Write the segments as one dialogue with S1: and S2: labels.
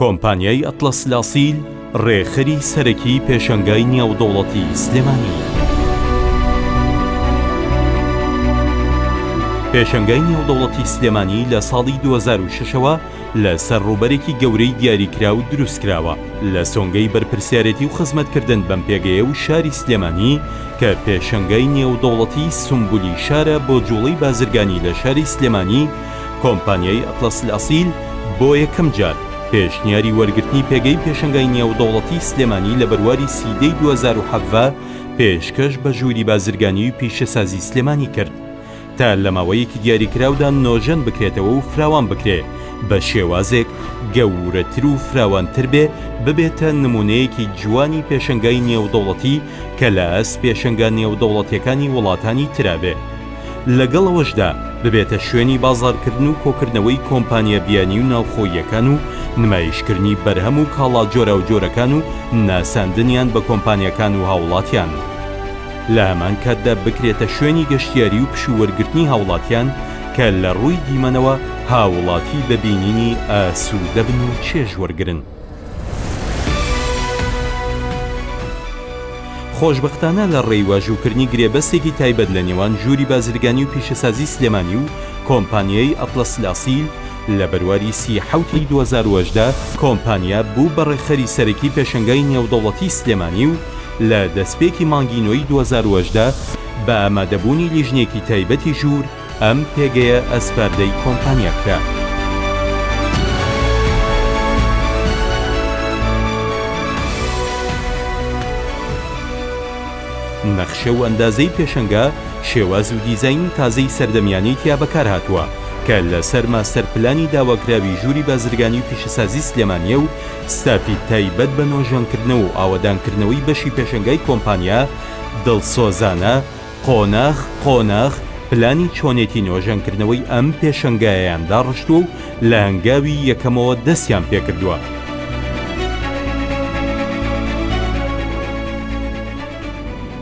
S1: کۆمپانیای ئەتڵەس لاسیل ڕێکخەری سەرەکیی پێشەنگای نێودەوڵەتیی سلێمانییە. پێشەنگای نێودەوڵەتیی سلێمانی لە ساڵی دوو هەزار و شەش ەوە لەسەر ڕووبەرێکی گەورەی دیاریکراو دروستکراوە، لە سۆنگەی بەرپرسیارێتی و خزمەتکردن بەم پێگەیە و شاری سلێمانی کە پێشەنگای نێودەوڵەتیی سومبولی شارە بۆ جوڵەی بازرگانی لە شاری سلێمانی کۆمپانیای ئەتڵەس ئەسیل بۆ یەکەم جار پێشنیاری وەرگرتنی پێگەی پێشەنگای نێودەوڵەتی سلێمانی لە بەرواری سیدەی دوو هەزار و حەڤدە پێشکەش بە ژووری بازرگانی و پیشەسازی سلێمانی کرد تا لە ماوەیەکی دیاریکراودا نۆژەن بکرێتەوە و فراوان بکرێ بە شێوازێک گەورەتر و فراوانتر بێ ببێتە نمونەیەکی جوانی پێشەنگای نێودەوڵەتی کە لە ئاست پێشەنگا نێودەوڵەتیەکانی وڵاتانی ترا بێ. لەگەڵ ئەوەشدا ببێتە شوێنی بازاڕکردن و کۆکردنەوەی کۆمپانیا بیانی و ناوخۆییەکان و نمایشکردنی بەرهەم و کاڵا جۆراوجۆرەکان و ناساندنیان بە کۆمپانیاکان و هاوڵاتیان لە هەمان کاتدا بکرێتە شوێنی گەشتیاری و پشوو وەرگرتنی هاوڵاتیان کە لە ڕووی دیمەنەوە هاوڵاتی بە بینینی ئاسوودە بن و چێژ وەرگرن. خۆشبەختانە لە ڕێی واژووکردنی گرێبەستێکی تایبەت لە نێوان ژووری بازرگانی و پیشەسازی سلێمانی و کۆمپانیای ئەتڵەس لاسیل، لە بەرواری سی و حەوت ی دوو هەزار و هەژدە کۆمپانیا بوو بە ڕێکخەری سەرەکی پێشەنگای نێودەوڵەتی سلێمانی و لە دەستپێکی مانگی نۆی دوو هەزار و هەژدە بە ئامادەبوونی لیژنەیەکی تایبەتی ژوور ئەم پێگەیە ئەسپاردەی کۆمپانیا کرا. نەخشە و ئەندازەی پێشەنگە، شێواز و دیزاینی تازەی سەردەمیانەی تیا بەکارهاتووە، کە لەسەر ماستەر پلانی داواکراوی ژووری بازرگانی و پیشەسازی سلێمانییە و ستافی تایبەت بە نۆژەنکردنەوە و ئاوەدانکردنەوەی بەشی پێشەنگای کۆمپانیا دڵسۆزانە قۆناخ قۆناخ پلانی چۆنێتی نۆژەنکردنەوەی ئەم پێشەنگایەیان داڕشتووە و لە هەنگاوی یەکەمەوە دەستیان پێکردووە.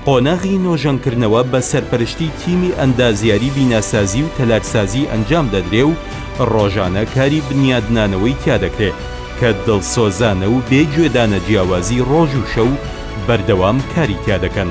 S1: قۆناغی نۆژەنکردنەوە بە سەرپەرشتی تیمی ئەندازیاری بیناسازی و تەلارسازی ئەنجام دەدرێ و ڕۆژانە کاری بنیادنانەوەی تیا دەکرێ کە دڵسۆزانە و بێ گوێدانە جیاوازی ڕۆژ و شەو بەردەوام کاری تیا دەکەن.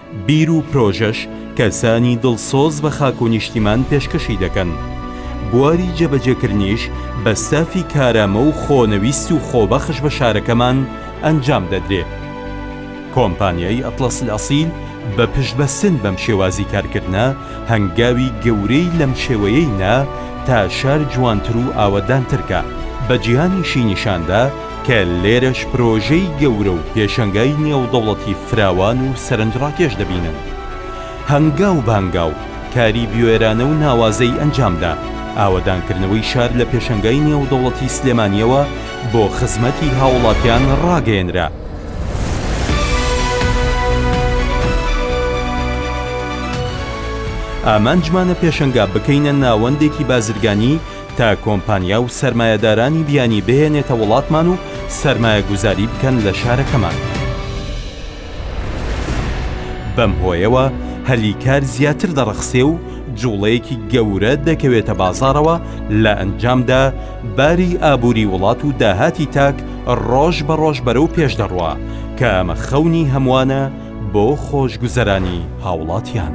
S1: بیر و پرۆژەش کەسانی دڵسۆز بە خاک و نیشتیمان پێشکەشی دەکەن، بواری جێبەجێکردنیش بە ستافی کارامە و خۆنەویست و خۆبەخش بە شارەکەمان ئەنجام دەدرێ. کۆمپانیای ئەتڵەس ئەسیل بە پشتبەستن بەم شێوازی کارکردنە، هەنگاوی گەورەی لەم شێوەیەی نا تا شار جوانتر و ئاوەدانتر کا، بە جیهانیشی نیشان دا، کە لێرەش پرۆژەی گەورە و پێشەنگای نێودەوڵەتی فراوان و سەرنجڕاکێش دەبینن. هەنگاو بە هەنگاو کاری بوێرانە و ناوازەی ئەنجامدا، ئاوەدانکردنەوەی شار لە پێشەنگای نێودەوڵەتی سلێمانییەوە بۆ خزمەتی هاوڵاتیان ڕاگەیەنرا. ئامانجمانە پێشەنگا بکەینە ناوەندێکی بازرگانی، تا کۆمپانیا و سەرمایەدارانی بیانی بهێنێتە وڵاتمان و سەرمایەگوزاری بکەن لە شارەکەمان. بەم هۆیەوە هەلی کار زیاتر دەڕەخسێ و جوڵەیەکی گەورە دەکەوێتە بازاڕەوە، لە ئەنجامدا باری ئابووری وڵات و داهاتی تاک ڕۆژ بە ڕۆژ بەرەو پێش دەڕوا، کە ئەمە خەونی هەموانە، بۆ خۆشگوزەرانی هاوڵاتیان.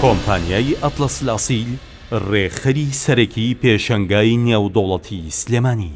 S1: کۆمپانیای ئەتڵەسلئەسیل رێکخەری سەرەکی پێشەنگای نێودەوڵەتی سلێمانی.